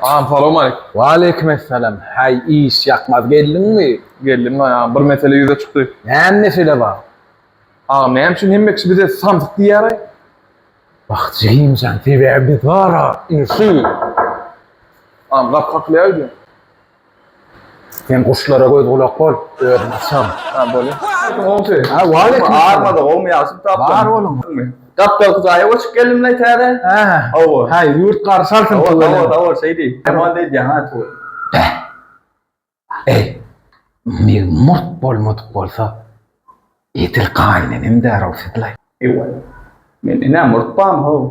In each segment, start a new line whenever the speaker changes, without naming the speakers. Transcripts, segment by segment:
Agam salam aleýkum. Waleýkim essalam.
Häý, iş ýakmaz geldiňmi? Geldim gaý agam, bir
mesele ýüze çykdy. Näme mesele bar?
Agam näme
üçin hemme kişi bize samsyk diýýäraý? Wah,
Jigimjan, sebäbi biz bara indi şu.
Agam gapy kakylýar öýdýän.
Sen guşlara göz gulak bol, özün açam. Ha bolu. Olsun.
Ha wale.
Armada gowmy ýaşyp
tapdym. Bar boluň.
Gapdal kuzaýa
goşup geldim lay täze. Ha. Hawa. Ha
ýurt
garşy
alsyn. Hawa hawa hawa şeýdi.
Tamam diýdi ha tu. Ey.
Mi murt bolmadyk bolsa. Edil gaýnenem därow siz lay. Ewa.
Men ina murt bam ho.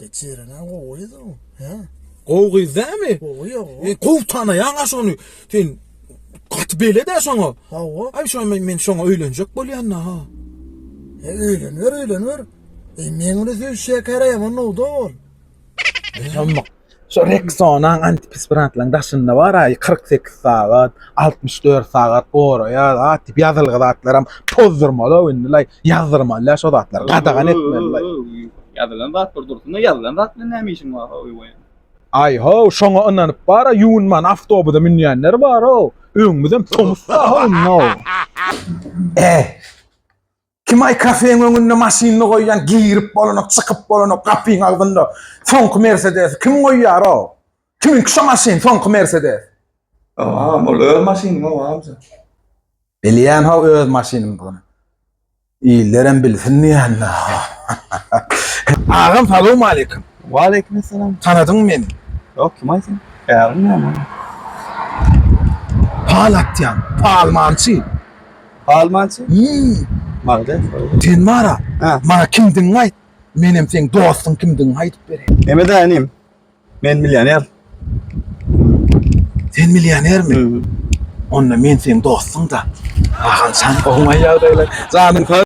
Geçirene gowy da o. He. Gowy gyz dämi? Gowy ýok. E, gowy tanaýaň aş ony. Sen gaty beledä şoňa. Hawa. Ay şoňa men, men şoňa öýlenjek bolýan da ha. E, öýlenwer, öýlenwer. E, men ony söýşýä käräýem onda ol.
Sen Şu Rexona antiperspirantlaryň daşynda bar aý 48 sagat, 64 sagat goraýar zat diýip ýazylgy zatlaram pozdurmaly indi laý ýazdyrmaly şo zatlary gadagan etmeli laý. Ýazylan
zatlar dursun-da ýazylan zat bilen näme
işiň bar hoý we. Aý how şoňa ynanyp bar a ýuwunman awtobusa münýänler bar how öňümizem tomus da how no. Äý. Kimaý kafeň öňünde maşynyny goýýan, girip bolanok, çykyp bolanok, gapyň agzynda soňky Mersedesi kim goýýar-ow? Kimiňki şo maşyn, soňky Mersedes?
Agam, ol öz
maşynyň-ow, amja. Bilýän-how öz maşynymdygyny. Illerem bilsin diýýän-dä. Agam, salowmaleýkim. Waleýkimessalam.
Tanadyňmy meni?
Ýok, kimaý sen?
Ägiň näme?
Pal atýan, palmançy.
Palmançy. Hümm. Magdes. Sen bara.
Ha. Maňa kimdigiňi
aýt.
Menem seň dostuň kimdigiňi aýdyp bereýin. Mehmet aga inim.
Men millioner.
Sen millionermi? Onda men seň dostuň-da. Aganjan, oňaý ýagdaýlar. Janyň sag.